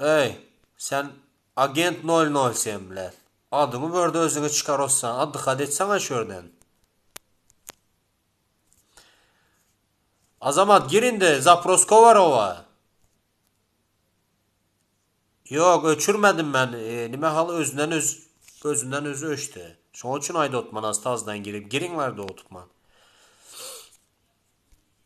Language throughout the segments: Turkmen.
Eý, sen agent nol nol sen bilen. Adyňy börde özüňe çykar ossa, addykat etseňä şu ýerden. Azamat gir indi, zapros kovarowa. Ýok, öçürmedim men. E, nime hal özünden öz özünden özü öçdi. Şoň üçin aýda otman astazdan girip, giriň bar dotman.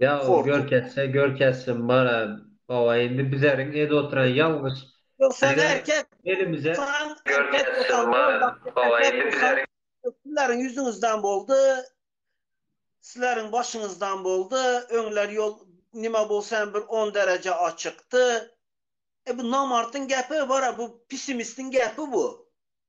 Ýag görkezse görkezsin bara baba indi bizeriň ed oturan ýalňyş elimize görkezsin bara baba indi bizeriň Sizleriň ýüzüňizden boldy Sizleriň başyňyzdan boldy öňler ýol nime bolsa hem bir on dereje açykdy e bu namartyň gepi bara bu pisimistiň gepi bu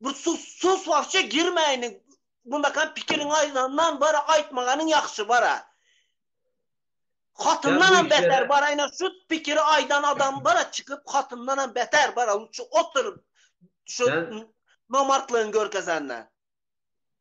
Bir sus sus wagşy girmäýiniň. Mundakam pikiriň aýdandan bara aýtmaganyň ýagşy bara. Hatyndan hem beter bara ýene şu pikiri aýdan adam bara çykyp hatyndan hem beter bara şu oturyp şu nomartlygyny görkezenden.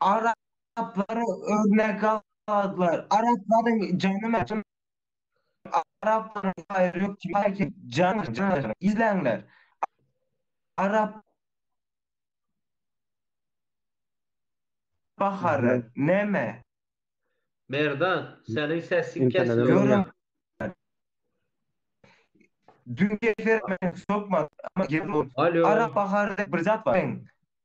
Araplary örnek aldylar. Araplaryň jany mäşem Araplaryň haýry ýok diýmäýki jan jan izleýinler. Arap bahary näme? Merdan seniň sesiň kesilip Görüm otyr. Dünki efir men sokmadym. Alo. Arap bahary diýip bir zat bar.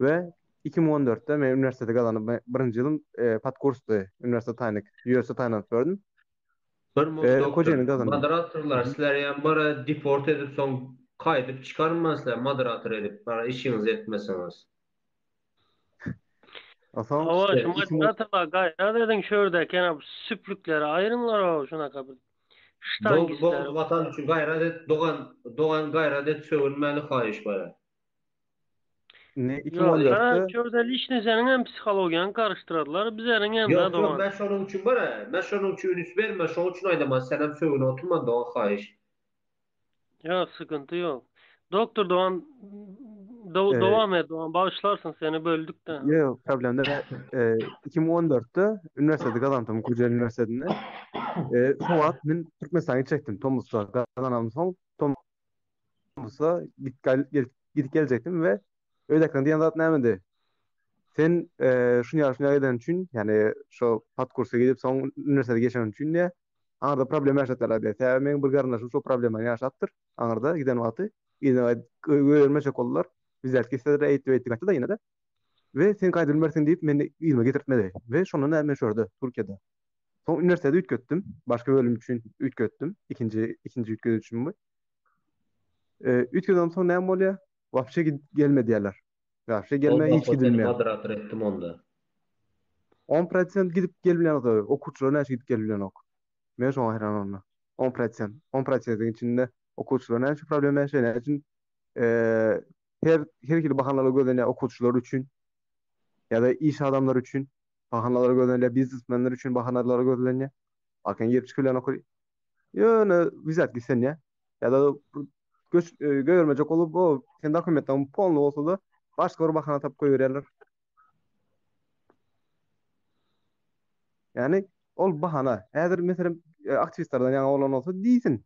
we iki müň on dörtde men uniwersiteti gazanyp birinji ýylym podkursdy uniwersitet taýynyk ýörite taýynlanyp gördüm. Bir müň doktor moderatorlar sizleri ýa bara deport edip soň kaýdyp çykarman sizleri moderator edip bara işiňizi etmeseňiz. Hawa şu moderatorlar gaýrat ediň şu ýerdäki ýene bu süplikleri aýryňlar o şunaka bir ştangistleri. Boldy boldy watan üçin gaýrat et dogan dogan gaýrat et sögünmäli haýyş bara. Indi iki Ýok, bolýar. sen şurada lişni seniň hem psihologiýaňy garyşdyrarlar, bizleriň hem Ýok, ýok, men şonuň üçin bar, men şonuň üçin üns berme, şoň üçin aýdaman, sen hem sögün oturman dogan haýyş. Ýok, sıkıntı ýok. Doktor dogan do- Ee, dowam et dogan, bagyşlarsyň seni böldük-de. Ýok, problem däl. E, 2014-de üniwersiteti gazandym, Kocaeli üniwersitetinden. E, şo wagt men Türkmenistana gitjekdim, tomusda gazanansoň, tom- bolsa gidip geljekdim we öz ekran diýen zat nämedi? Sen şuny ýa şuny eden üçin, ýagny şo podkursa gidip soň uniwersitete geçen üçin diýä, aňyrda problem ýaşatýarlar diýä. Sebäbi meniň bir garyndaşym şo problemany ýaşapdyr, aňyrda giden wagty öýermejek boldular. Biz däl gitseler eýtdi beýtdi gaýtdy-da ýene-de. We sen gaýdyp bilmersiň diýip meni yzyma getirtmedi. We şondan bäri men şu ýerde Türkiýede. Soň uniwersiteti üýtgetdim, başga bölüm üçin üýtgetdim, ikinji ikinji üýtgedişim bu. E, üç gün ondan soň näme bolýar? Wapşe gidip gelme diýýärler. Wapşe gelme hiç gidilmeýär. Moderator etdim onda. 10% gidip gelmeýär. Okuwçylar näçe gidip gelmeýär? Men şoňa haýran onda. 10%. 10%-iň içinde okuwçylar näçe problem ýaşaýar? Näme üçin? E, her her hili bahanalar gözlenýär okuwçylar üçin. Ýa-da iş adamlary üçin bahanalar gözlenýär, biznesmenler üçin bahanalar gözlenýär. Akyň girip çykylýan okuw Ýöne wizat gitsen ýa. Ýa-da göç göýermejek bolup, o sen dokumentleň polny bolsa-da, başga bir bahana tapyp goýberýärler. Ýani ol bahana. Häzir meselem aktiwistlerden ýaňa bolan bolsa diýsin.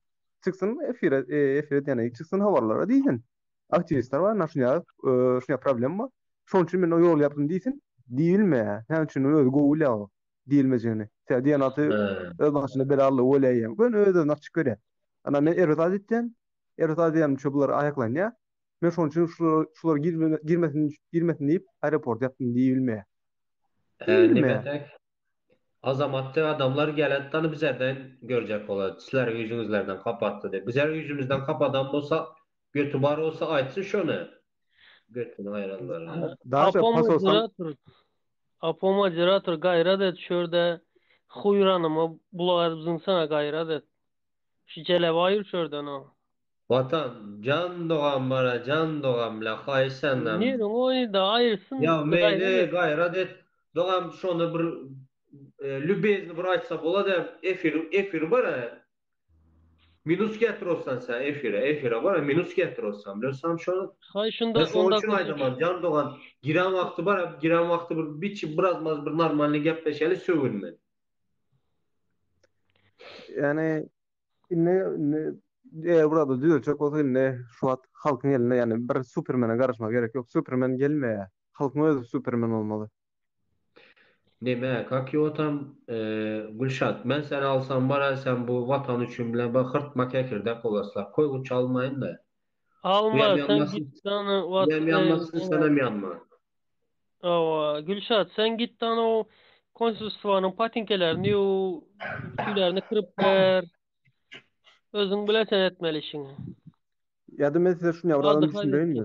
Çyksyn efire, efire diýýän, çyksyn habarlara diýsin. Aktiwistler bar, naşyny ýazyp, şuňa problem bar. Şonuň üçin men o ýoly ýapdym diýsin. Diýilmeýär. Näme üçin özi gowy bilýär o. diýilmejegini. Sebäbi diýen zady öz bagşyna belallygy bolýar ýa göni öz-özüni açyk görýär. Ana, men erbet zat etýän, erbet zat edýänim üçin bular aýaklanýar. Men şonuň üçin şular girmesin, girmesin diýip, aeroport ýapdym diýilmeýär. Diýilmeýär. Azamatly adamlar gelensoň da bizlerden görjek bolar. Sizler üýjüňizlerden kapatdy diýip. Bizler üýjümizden kapadan bolsak, Göti bar bolsa aýtsyn şony. Götüni aýranlar ha. Daşa pas olsaň. Apo moderator gaýrat et şu ýerde huýranyma gulak edip zyňsana gaýrat et. Şu jelebaý ur şu ýerden o. Watan jan dogam bara jan dogam la haýyş senden. Nirden oýny da aýyrsyn. Ýa meýli gaýrat et dogam şony bir lübezni bir aýtsa bolada efir efir bara Minus getrosdan sen efire efire bar minus getrosdan bilen sam şonu. Hay şunda onda şunu aýdaman jan dogan giren wagty bar giren wagty bir biçi biraz maz bir normalny gepleşeli sögünme. Ýani indi indi eger burada düzeltjek bolsa indi şu wagt halkyň elinde ýani bir supermene garaşmak gerek ýok supermen gelmeýä halkyň özi supermen bolmaly. Neme kak ýotam Gülşat men seni alsam baraý sen bu watan üçin bile bir hyrtma kekirdek bolasla koýguç almaýynda. Alma sen git dana watan Buyam ýanmasyn senem ýanma. Hawa Gülşat sen git dana o konsulstwanyň patinkelerini ýuw ütülerini kyrp ber. Özüň bile sen etmeli işiňi. Ýa-da men size şuny ýabragam düşündireýinmi?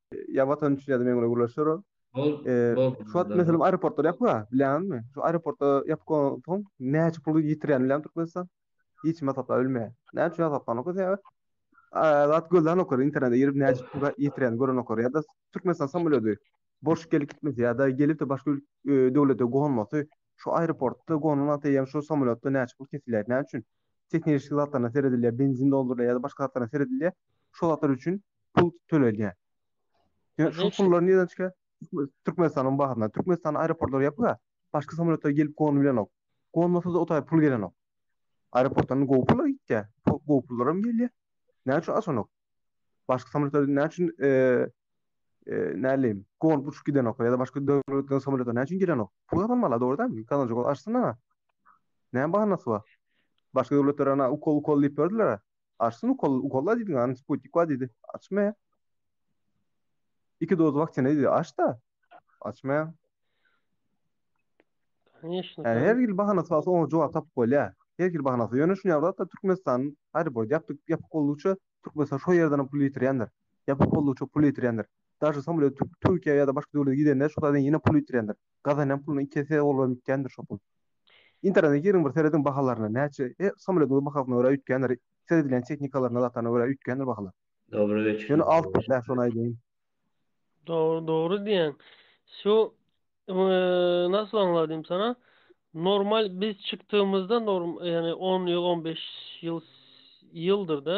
Ýa watan üçin ýa-da meňlere gürleşer ol. Ol, Eee, ol. Şu wagt meselem aeroportlar ýapyk-a, bilýäňizmi? Şu aeroportlar ýapyk bolansoň näçe pul ýitirýän bilýäňmi Türkmenistan? Hiç kim hasaplap bilmeýär. Näme üçin hasaplanokka sebäbi eee, zat gözlänoklar, internete girip näçe pul ýitirýänini görenoklar ýa-da Türkmenistan samolýody boş gelip gitmesi ýa-da gelip-de başga ül eee, döwlete gonmasy, şu aeroportda gonan wagty eýýäm şu samolýotda näçe pul kesilýär, näme üçin? Tehnilişik zatlaryna seredilýär, benzin doldurylýar ýa-da başga zatlaryna seredilýär. Şol zatlar üçin pul töledýär. Ýöne şu pullar nireden çykýar? Türkmenistanyň bahryndan. Türkmenistanyň aeroportlary ýapyk-a. Başga samolýotlar gelip gonup bilenok. Gonmasa-da o taýy pul gelenok. Aeroportdan gowy pullar gitýär. Gowy pullaram gelýär. Näme üçin açanok? Başga samolýotlar näme üçin näleýin, gonup uçup gidenok ýa-da başga döwletleriň samolýotlary näme üçin gelenok? Pul gazanmaly-a, dogry dälmi? Gazanjak bolsa açsyn ana. Näme bahanasy bar? Başga döwletler ana ukol-ukol diýip berdiler-ä. Açsyn ukol, ukolla diýdiň an sputnik bar diýdi. Açmaýar. Iki doz waksina diýdi. Aç da. Açmaýar. Конечно. Yani her ýyl bahana salsa oňa jogap tapyp bolýar. Her ýyl bahana salsa. Ýöne şuny ýaly da Türkmenistan aeroport ýapyk ýapyk boldugyça Türkmenistan şo ýerden pul ýitirýändir. Ýapyk boldugyça pul ýitirýändir. Daşy samolet Türkiýä ýa-da başga döwlete gidende şo taýdan ýene pul ýitirýändir. gazanýan pulunyň iki esse bolubam ýitgändir şo pul. Internete giriň bir serediň bahalaryna näçe e samolýodyňyz bahasyna görä üýtgändir seredilýän tehnikalaryna zatlaryna görä üýtgändir bahalar. Dobra geçiň. Ýöne alt dä şony aýdaýyn. Dogry dogry diýýäň. Şu nasl aňladym sana normal biz çykdygymyzda norm ýagny on ýyl on beş ýyl ýyldyr da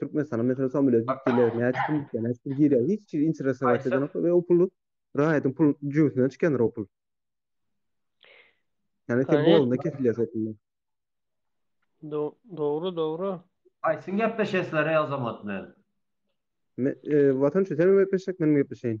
Türkmenistana meselem samolýot gitdiler, näçe pul gitdi, näçe pul girýär, hiç kim interesowat edenok we o pul raýatyň pul jübüsinden çykandyr o pul. Yani sen bu alanda kesilýär şekilli. Dogry, dogry. Aýsyn gepleşesler ey Azamat bilen. Me, e, Watan üçin sen gepleşsek, men gepleşeýin.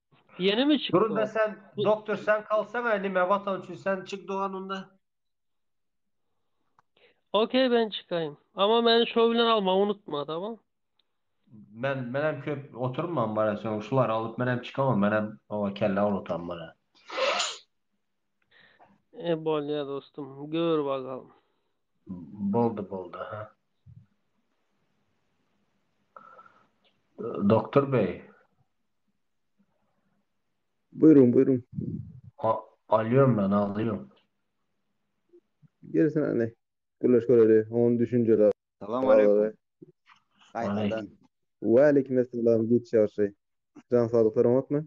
Ýene mi çykdy? Durun be sen doktor sen kalsaňa nime watan üçin sen çyk dogan onda. Okey ben çykaýyn. Ama meni şo bilen almagy unutma tamam. Men men hem köp oturman bara sen şular alyp men hem çykamam men hem owa kelle awratan bara. E bolýa dostum gör bakalım. Boldy boldy ha. Doktor bey. Buyurun buyurun. A, alýom men, alýom. Gelsin hany. Gürleşip göreli. Oň düşünjeli. Salam aleykum. Gaýtadan. Wa aleyküm essalam giç ýagşy. Jan saglyklar oňatmy?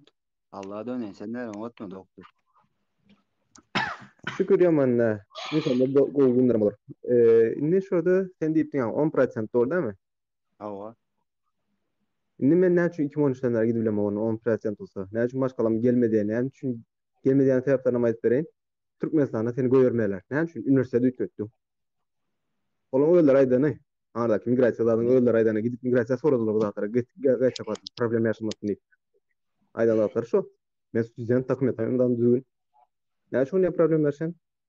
Allaha döneýin. Senden oňatmy dogtur? Şükür ýaman dä. Inşallah gowy günlerim bolar. Indi şurada sen diýipdiňä on prosent dol dämi? Hawa. Indi men näme üçin iki müň on üçden bäri gidip bilemok onda on prosent bolsa? Näme üçin maşgalam gelmediýä? Näme üçin gelmediýäniň sebäplerini hem aýdyp bereýin. Türkmenistanda seni goýbermeýärler. Näme üçin uniwersiteti üýtgetdiň? Olaň özleri aýdany. Ardaky migrasiýa zadyň özleri aýdany. Gidip migrasiýa soradylar bu zatlara. Gaýt çapat problem ýaşamasyn diýip. Aýdan zatlary şo. Men student dokumentlary hem düzgün. Näme üçin ýa problem berişen?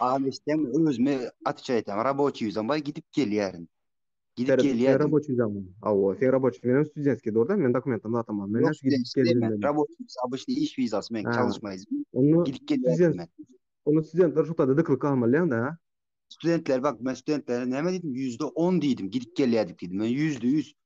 Aň eşitsem özüme atça etem. Raboçi yüzem bay gidip gelýärin. Gidip gelýär. Raboçi yüzem. Awa, sen raboçi menen studentski durda, men dokumentim zatamam. Men şu gidip gelýärin. Raboçi yüz abışny iş vizası men çalışmaýyz. Onu gidip gelýärin. Onu studentler şu taýda dyklyk almalyň da. Studentler bak, men studentlere näme diýdim? %10 diýdim, gidip gelýärdik diýdim. Men %100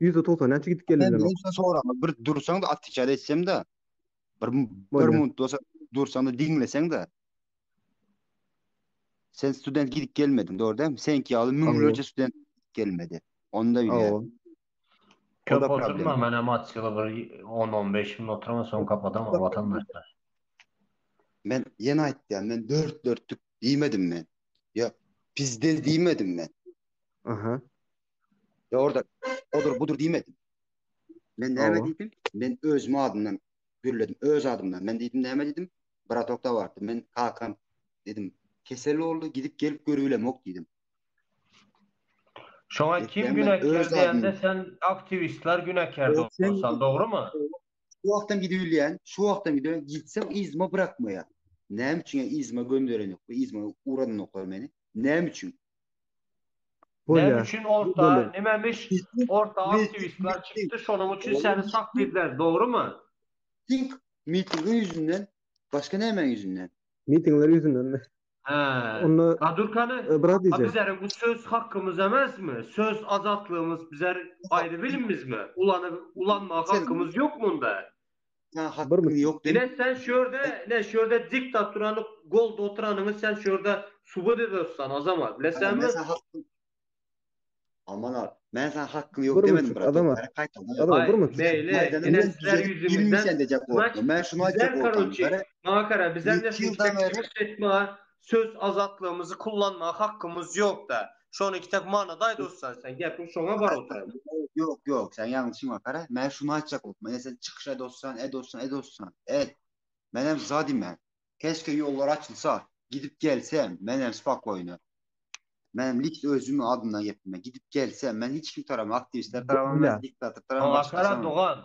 Ýüzde togsan näçe gidip geldi bilen wagt. Sen soraňa bir dursaňda atwiçat etsemda bir bir minut bolsa dursaňda diňleseňda. Sen student gidip gelmediň dogry dämi? Senki ýaly müňlerçe student gelmedi. Onda bilýär. Köp oturma men hem atwiçada bir on on beş minut oturamyn soň kapadaman watandaşlar. Men ýene aýtýan men dört dörtlük diýmedim men. Ýa pizdel diýmedim men. Aha. Ýa orada odur budur diýmedim. Men näme Hawa. diýdim? Men özüm adymdan gürledim. Öz adymdan. Men diýdim näme diýdim? Bratok da bardy. Men kakam dedim. Kesel boldy, gidip gelip görübilemok diýdim. Şoňa kim Etýän men günäkär öz diýende adymdan. sen aktiwistler günäkär Ol sen- bolsan, dogrumy? Şu wagtam gidip bilýän, şu wagtam gidip gitsem yzyma bırakmaýar. Näme üçin ýa yzyma gönderenok, bu yzyma ugradanoklar meni. Näme üçin? Näme üçin orta nimemiş orta aktiwistler çykdy şonuň üçin seni sap bizler dogrymy. Tink mitingiň ýüzünden başga nämäň ýüzünden. Mitingiler ýüzündenmi. Hä. Onda. Gadurkany. Brat. Bizleriň bu söz hakymyz emesmi söz azatlygymyz bizler aýry bilimizmi ulanyp ulanmaga hakymyz ýokmy onda. Saňa hakkyň ýok diýip. Ine sen şu ýerde, ine şu ýerde diktaturany goldap oturanyňy sen şu ýerde subut ederisdan Azamat, bilesenmi? Aman al. Men saňa hakkyň ýok demedim brat. Azamat bir minut. Meýli, ine sizler ýüzüňizden. Men şuny aýtjak boldum. Maňa gara, bize söz azatlygymyzy kullanmaga hakkymyz ýok-da. Şony iki tek manada aýt ussat sen gepiň şoňa bar otyr. Ýok ýok sen ýalňyş düşünme gara men şuny aýtjak bolupman ýa sen çykyş et ussat et ussat et ussat et men hem za diýmän keşke ýollar açylsa gidip gelsem men hem spokoýno men hem likt özümiň adymdan geplemän gidip gelsem men hiç kim tarabam aktiwistler tarabam diktator tarabam başga tarabam. Dogan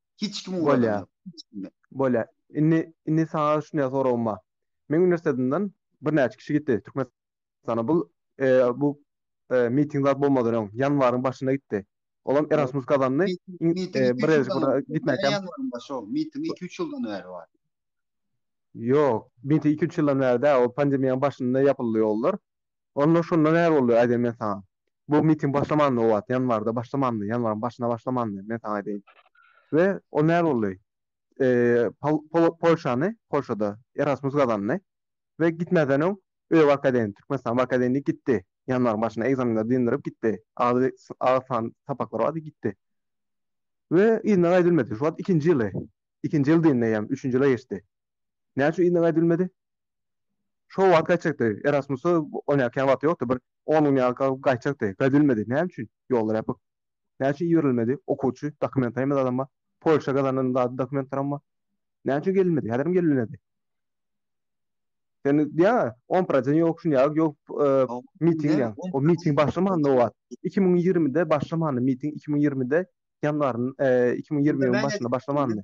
Hiç kimi ugradam ýok. Hiç kimi. Bolýa. Indi, indi saňa şunýa soragym bar. Meň uniwersitetmden birnäçe kişi gitdi Türkmenistana. Bu, e, bu, e, miting zat bolmadan öň, ýanwaryň başynda gitdi. Olam Erasmus gazandy. Miting iki-üç ýyldan bäri bar. Ýok, miting iki-üç ýyldan bäri däl. Ol pandemiýanyň başynda ýapyldy ýollar. Onda şonda näme boldy, aýdaýyn men saňa. Bu miting başlamandy o wagt, ýanwarda başlamandy, ýanwaryň başynda başlamandy, men saňa aýdaýyn. We o näme boldy? Eee, Polşany, Polşada Erasmus gazandy we gitmäzden öň öýe barkaýdaýyn, Türkmenistana barkaýdaýyn diýip gitdi. Ýanwaryň başynda ekzamenleri dyndyryp gitdi. Agy, agy san sapaklary bardy, gitdi. We yzyna gaýdyp bilmedi. Şu wagt ikinji ýyly. Ikinji ýyl dyndy eýýäm, üçünji ýyla geçdi. Näme üçin yzyna gaýdylmady? Şo wagt gaýtjakdy. Erasmusa oýnarkäň wagty ýokdy. Bir on gün ýaly galyp gaýtjakdy. Gaýdylmady. Näme üçin? Ýollar ýapyk. Näme üçin iberilmedi? Okuwçy, dokumentarym zadam bar. Polşa gazanan zady dokumentarym bar. Näme üçin gelinmedi? Häzirem gelinmedi. Sen diýýäň-ä, on projen ýok, şun ýaly ýok, miting diýýäň. O miting başlamanda o wagt. Iki müň ýigrimide başlamandy miting, iki müň ýigrimide ýanwaryň, iki müň ýigrimiň başynda başlamandy.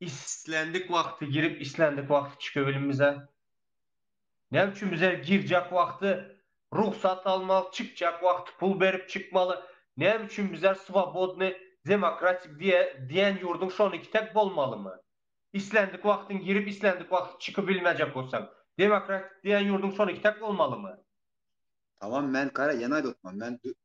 Islendik wagty girip islendik wagty çükebilim bize? Näme üçin bize girjek wagty rugsat almaly çykjak wagty pul berip çykmaly näme üçin bize swobodny demokratik diýe diýen ýurduň şoniki tek bolmalymy? Islendik wagtyň girip islendik wagty çyky bilmejek bolsaň demokratik diýen ýurduň şoniki tek bolmalymy? Tamam men kara ýene aýdotman men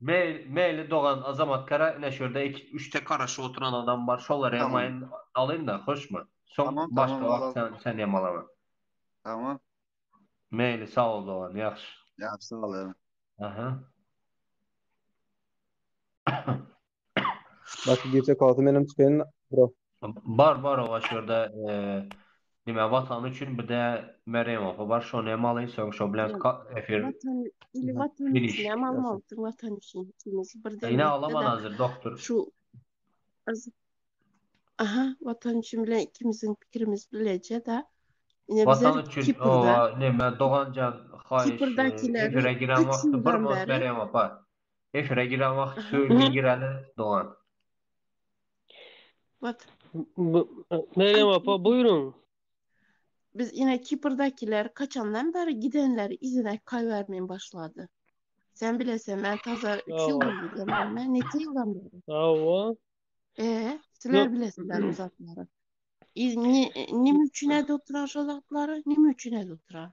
Mail-mail dogan Azamat kara ine şurda iki üç tek garaşyp oturan adam bar şolar hem mail alyna hoşmy soň başga wagt sen hem alawer. Tamam. Mail sag bol dogan ýagşy. Ýagşy bol. Aha. Başga girse kalsa menem çykaýyn bro. Bar bar oba şu ýerde nime watan üçin bir de Merýem oba bar şony hem alyň soň şo bilen efir. Watan ili watan üçin hem almalydyr watan üçin ikimiz bir de. Ine alaman hazır doktor. Şu Aha watan üçin bilen ikimiziň pikirimiz bileje da. Ine bize Kiprda. Nime doganjan haýyş. Kiprdakiler. Efire giren wagty bir mos Merýem oba. Efire giren wagt söyleye gireli dogan. What? Meryem apa buýruň. Biz ine Kiprdakiler kaçandan beri gidenleri izine kaýbermen başlady. Sen bilesen men taza 3 ýyl boldy gelmeme neçe ýyldan beri. Hawa. Eee sizler bilesiler bu zatlary. Nime üçin ede oturan şo zatlary nime üçin ede oturan.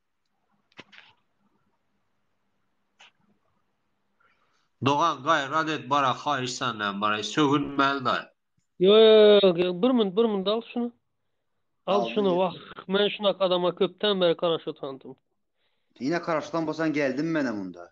Dogan gaýrat et bara haýyş senden bara sögünmäli daýy. Ýok ýok bir minut bir minut al şuny. Al şuny wah men şunak adama köpden bäri karaş otandym. Ine karaşdan bolsan geldim menem onda.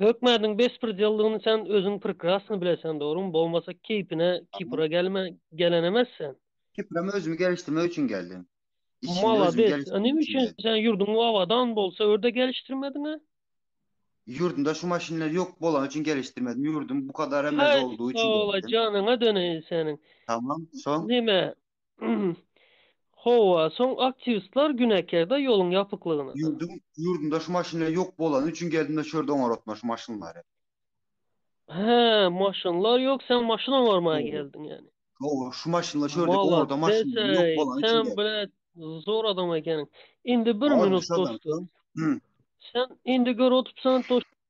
Hökmädiň bespredjelligini sen özüň prekrasny bileseň dogrymy bolmasa keýpine kipra gelme gelenemes sen. Kiprem özümi gelişdirmek üçin geldim. Malades, a nime üçin sen ýurduň abadan bolsa ör-de gelişdirmediňa? Ýurdumda şu maşynlar ýok bolany üçin gelişdirmedim, ýurdum bu kadar emez boldugy üçin gelişdirdim. Haý, sag bol-a janyňa döneýin seniň. Tamam, soň? Nime, Hawa, soň aktiwistlar gün äkärde ýoluň ýapyklygyna da. Ýurduň ýurdunda şu maşynlar ýok bolany üçin geldim-de şu ýerde oňaratma şu maşynlary. Hä, maşynlar ýok, sen maşyn oňarmaga geldiň ýani. Hawa, şu maşynlar şu ýerdeki oňarda maşynlar ýok bolany üçin geldim. Maladdes-eý, sen brat zor adam ekeniň. Indi bir minut dostum. Sen indi gör otupsan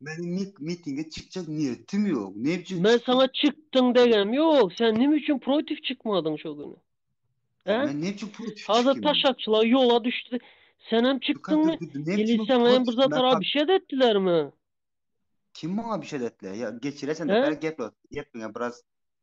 Meniň nik mitinge çykjak niýetim ýok. Näme üçin? Men saňa çykdyň degem ýok. Sen näme üçin protiw çykmadyň şo güni? He? Men näme üçin protiw çykýan? Hazir taşakçylar ýola düşdi. Senem çykdyňmy? Ili saňa hem bir zat ara bir şey etdilermi? Kim maňa bir şey etdiler? Ýa geçireseň, bäri geplet. Gepiňe biraz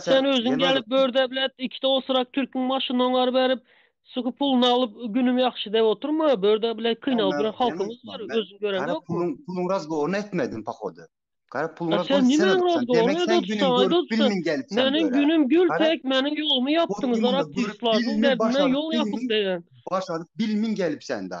Sen özüň gelip bör deblet ikide osurak türküň başyny oňar berip suky puluny alyp günüm ýagşy dep oturma bör deblet kynalyp ýören halkymyz bar özüň göreňokmy. Gara puluň razgowyryny etmediň pahody. Gara puluň razgowyny sen edipsiň demek sen günüm görüp bilmiň gelip sen böre. Meniň günüm gül tek meniň ýolumy ýapdyňyz gara pyslardyň derdine ýol ýapyp degen. Başaryp bilmiň gelip sen da.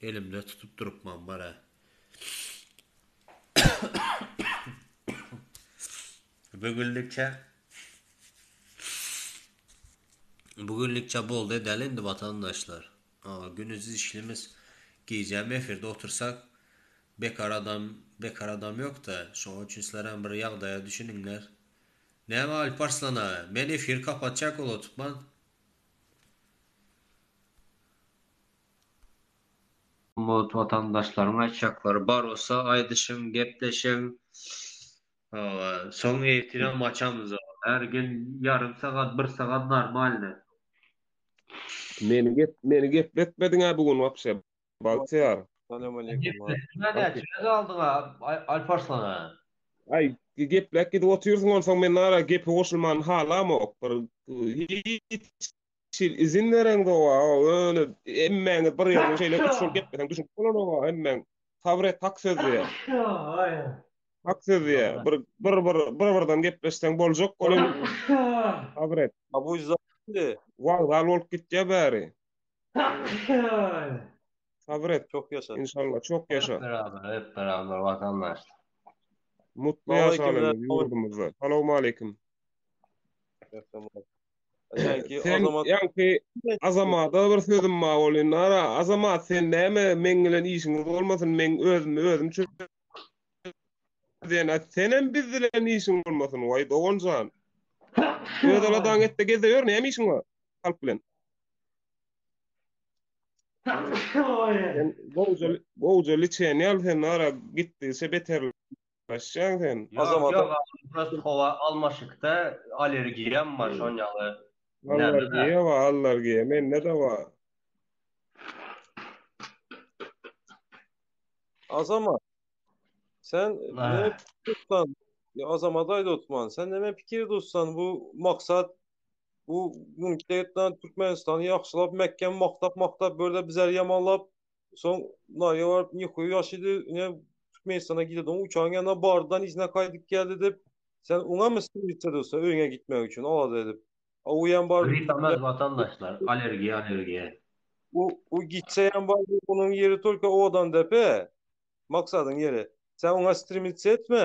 Elimde tutup durupman bar-a. Bu günlükçe Bu günlükçe boldy edeli indi watandaşlar. Aga günüz işlimiz gijäm efirde otursak bekar adam bekar adam ýokda şoň üçin sizlerem bir ýagdaýa düşüniňler. Näme Alp Arslan aga men efir kapatjak olup otupman. Gymmat watandaşlaryň aýtjaklary bar bolsa aýdyşyň gepleşiň hawa soň efiram açamyz her gün ýarym sagat bir sagat normalny. Meni gep meni gepletmediňä bu gün wapşe bagtyýar. Salamaleýkum a. Gepletdiňä näçega galdyňa Alparslana. Aý gepläp gidip otyrsyň onsoň men ara gepe goşulmany halamok bir hiç Şeýle izin beren gowa, öyle emmäňiz bir ýerde şeýle üç ýol gepleseň düşünip bolanoga emmäň. Sabyr et hak söz diýer. Hak söz diýer. Bir bir bir bir birden gepleşseň boljak olam sabyr et. Abu Izza indi wagzal bolup gitýär bäri. Sabyr et. Çok yaşa. İnşallah çok yaşa. Hep beraber, hep beraber vatandaş. Mutlu yaşalyň ýurdumyzda. Salamaleýkim. Sen ýaňky azamada bir sözüm bar bolýan. Nara, azamat sen näme meň bilen işiň bolmasyn, meň özümi özüm çö Sen senem biz bilen işiň bolmasyn, waý doganjan. Öz aladaň etde gezde ýör, näme işiň bar? Halk bilen. Sen gowja, gowja liçeni al sen nara gitdi, şe beter. Gaçjaň sen. Ýok ýok agam prosto howa almaşykda allergiýam bar şon ýaly näme da. Allergiýa bar allergiýa mende de bar. Azamat sen neme pikir tutsan ýa Azamata aýda otman sen neme pikir tutsan bu maksat bu mümkinçilik etmän Türkmenistany ýagşylap mäkem maktak maktak börde bizleri ýamanlap Soň Nariýa baryp Nikoýa ýaşydy, ine Türkmenistana gidedi. Oň uçaryň ýanyna bardan yzyna gaýdyp geldi dip, sen oňamy stolica dursa öýüňe gitmek üçin alada edip. A o ýam baryp Grip emez watandaşlar, alergiýa alergiýa. O o gitse ýam baryp onuň ýeri tolko owadan depe. Maksadyň ýeri. Sen oňa strimica etme.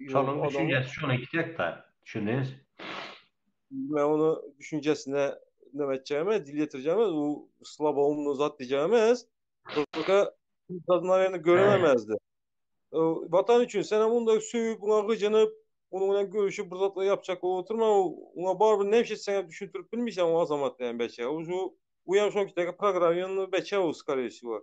Şonuň düşünjesi şonuň iki hektar. Düşündiňiz? Men onu düşünjesine näme etjegime, dil ýetirjegime, bu slaboumny zat diýjegime, Türkçe Dadnaryny göremezdi. Watan üçin sen onda söýüp, buňa gyjynyp, onuň bilen görüşip bir zatlar ýapjak bolup oturma, oňa barybir näme iş etseňem düşündirip bilmeýsäň o azamat diýen beçe. Şu uýam şoňkidäki programmany beçe o skore wsýo.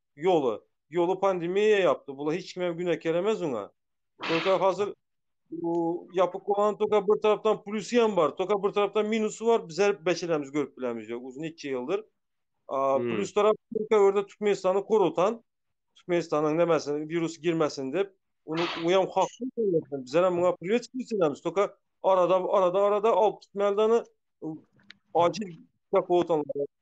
ýoly. Ýoly pandemiýa ýapdy. Bula hiç kimem günä keremez öňe. Toka hazir bu ýapyk bolan toka bir tarapdan plusy hem bar. Toka bir tarapdan minusy bar. Bize beçelerimiz görüp bilämiz ýok. Uzun hiç ýyldyr. A hmm. plus tarap Türkiýe ýerde Türkmenistany korutan. Türkmenistanyň nämesin wirus girmesin diýip. Onu uýam hakly diýip. Bize hem muňa privet diýip. Toka arada arada arada alyp gitmäldeni acil ýapyk otalyp.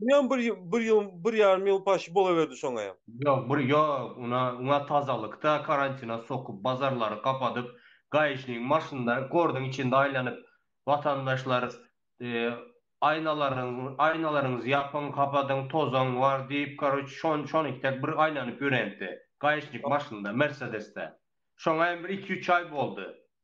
Bu hem bir ýyl, bir ýyl, bir ýarym ýyl paşy bolaberdi şoňa hem. Ýok, bir ýok, una, ňa tazalykda karantina sokup, bazarlary gapadyp, gaýyşniň maşynda, gordyň içinde aýlanyp, watandaşlar, aýnalaryňyz, aýnalaryňyzy ýapyň, gapadyň, tozaň bar diýip, karoç, şon, şonuňky dek bir aýlanyp ýörenipdi, gaýyşnik maşynda, mersedesde. Şoňa hem bir iki-üç aý boldy.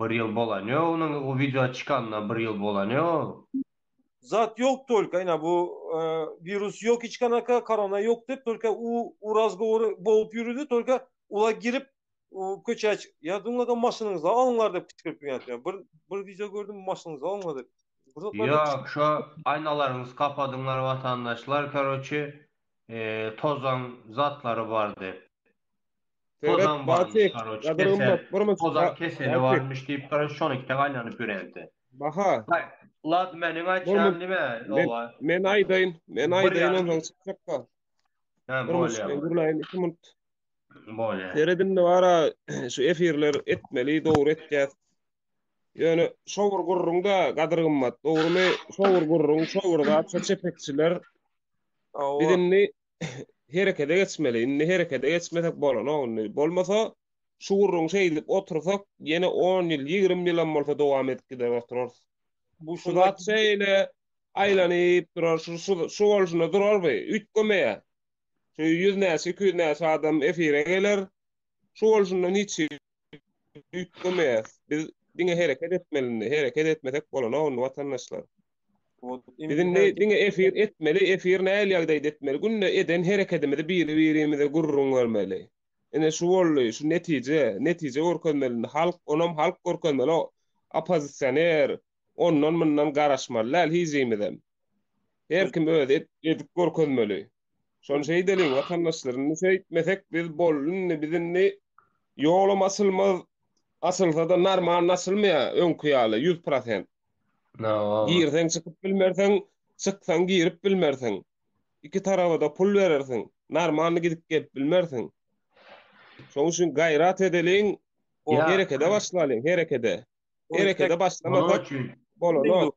Bir ýyl bolany ýok onuň o wideo çykanyna bir ýyl bolany ýok. Zat ýok tolka ina bu wirus ýok hiç kanaka korona ýok dep tolka u u razgowory bogup ýürüdi tolka ula girip u köçä çyk ýa dulňada maşynyňyza alyňlar dep kykyrp ýördi bir bir wideo gördüm maşynyňyza alyňlar dep Ýok şo aýnalaryňyzy kapadyňlar watandaşlar karoçe eee tozan zatlary bar dep. Tozan barmyş garoç kesel. Tozan keseli barmyş diýip garoç şony ikide gaýnanyp ýöränse. Baha. Lad meniň aýtýan nime owa. Men aýdaýyn. Men aýdaýyn onsoň çykjakka. Hä bolýa. Men gürläýin 2 minut. Bolýa. Seredin wara şu efirler etmeli dogry etýäs. Ýöne şo bir gurruňda gadyr gymmat dogrymy? Şo bir gurruň şo bir zat şo çepekçiler. Biz indi herekede geçmeli. Indi herekede geçmesek bolanok indi. Bolmasa şu gürrüňi şeýdip otursak, ýene on ýyl, ýigrimi ýylam bolsa dowam edip gider oturarys. Bu şu zat şeýle aýlanyp durar, şu şu bolşuna durar bu. Üýtgemeýä. Şu ýüz näçe, iki ýüz näçe adam efire geler. Şu bolşundan hiç üýtgemeýäs. Biz diňe hereket etmeli indi. Hereket etmesek bolanok indi watandaşlar. Biz indi diňe efir etmeli, efir näl ýagdaýda etmeli. Günde eden herekedimizi biri-birimize gürrüň bermeli. Ine şu boldy, şu netije, netije görkezmeli indi. Halk, onam halk görkezmeli. O oppozisioner ondan-mundan garaşmaly däl hic kimizem. Her kim özi edip görkezmeli. Şony şeýdeliň, watandaşlar, indi şeýtmesek biz boldy, indi biz indi ýolam açylmaz, açylsa-da normalny açylmaýar, öňki ýaly, ýüz prosent. Hawa. Girseň çykyp bilmersiň, çyksaň girip bilmersiň. Iki taraba-da pul berersiň, normalny gidip-gelip bilmersiň. Şonuň üçin gaýrat edeliň, Ýa. herekete başlalyň, herekete. Herekete başlamasak, bolanok.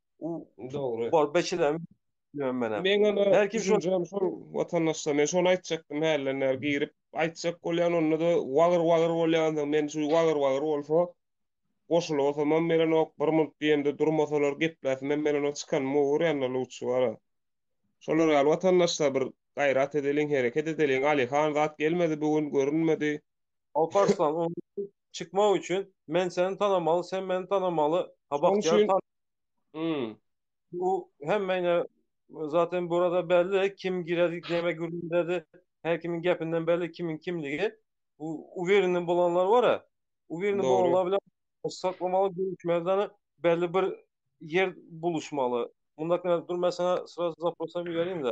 U Dogry. Bor beçilerim bilmem menem. Men ana Her kim şol- düşünjem şol watandaşlar. Men şony aýtjakdym hälden bäri girip aýtjak bolýan onda-da wagyr wagyr bolýansoň men şu wagyr wagyr bolsa goşulasamam berenok bir munt diýemde durmasalar gepläsimem berenok çykanym obar ýanyna lutçy bara. Şolar ýaly watandaşlar bir gaýrat edeliň hereket edeliň Alyhan zat gelmedi bu gün görünmedi. Alparslan, onuň çykmak üçin men seni tanamaly, sen meni tanamaly. Ha Bagtyýar tan. Hmm. Bu hemmeýne zaten burada belli kim giredi, näme gürledi. Her kimiň gepinden belli kimiň kimligi. Bu uwereni bolanlar bar-a. Uwereni bolanlar bilen saklamaly, görüşmeli, belli bir ýer buluşmaly. Mundakine dur men sana sraz zaprosam iberin-de.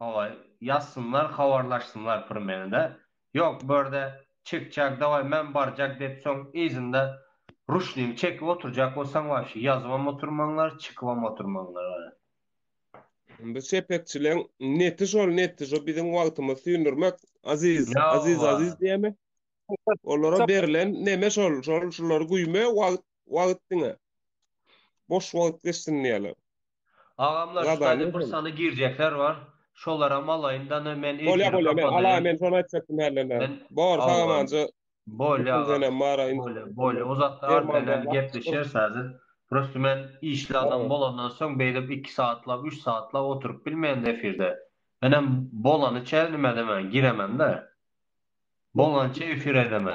Hawa, ýazsynlar, habarlaşsynlar pyr mende. Ýok, bu ýerde çekjak, dawaý, men barjak diýip, soň yzynda ruşnigi çekip oturjak bolsaň, wapşe ýazybam oturmaňlar, çykybam oturmaňlar, gara. Indi şepekçileň neti şol, neti şu biziň wagtymyzy süýndürmek, aziz, aziz, aziz diýemi? Olara berlen neme şol, şol, şulary güýme, wagt wagt diňe boş wagt geçsin diýýäler. Agamlar şu taýda bir sany girjekler bar. Şolaram alaýyn dana men efiri kapadaýyn. Bolýa bolýa men alaýyn men şony aýtjakdym hälene. Bor sagamanja. Bolýa agam. Bolýa bolýa o zatlar bilen gepleşeris häzir. Prosta men işli adam bolandan soň beýdip iki satlap üç satlap oturyp bilmeýän efirde. Menem bolanyça nime diýmen giremen-de. Bolanyça efir edemen.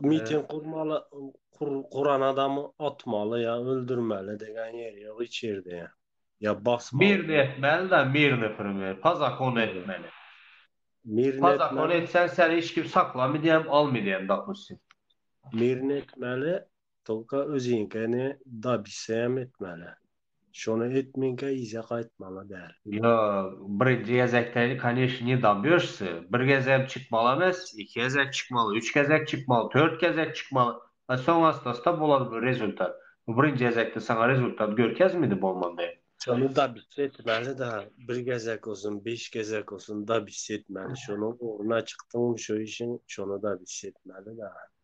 Miting gurmaly, guran adamy atmaly ýa öldürmeli degen ýeri ýok hiç ýerde. Ýa basmaly. Birini etmeli-de, birini prime, pa zakonu etmeli. Birini etmeli. Pa zakonu etseň seni hiç kim saklamydy hem, almydy hem dopustim. Birini etmeli, Tolka öziňkeni dabisem etmäle. Şony etminkä yza gaýtmaly däl. Ýok, bir gezek täze koneşn ne dobýoşsy. Bir gezegem çykmaly emes, iki gezek çykmaly, üç gezek çykmaly, tört gezek çykmaly. A soň ast-asta bolar bu rezultat. Bu birinji gezekde saňa rezultat görkezmidi bolmanda. Şony dabis etmäli däl. Bir gezek bolsun, beş gezek bolsun dabis etmäli. Şonuň ugruna çykdyňmy şu işiň, şony dabis etmäli däl.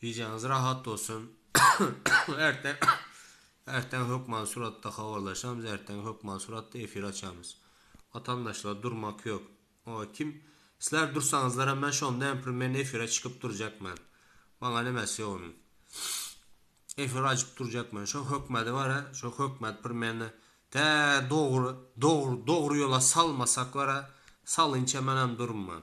Gijäňiz rahat bolsun. Ertir ertir hökman suratda habarlaşamyz, ertir hökman suratda efir açamyz. Watandaşlar durmak ýok. Oý kim Sizler dursaňyzlaram men şonda hem pir men efire çykyp durjak men. Maňa nemesi ýok onuň. Efir açyp durjak men. Şo hökmedi bara, şo hökmet pir meni tä dogry dogry dogry ýola salmasaklara salynça men hem durman.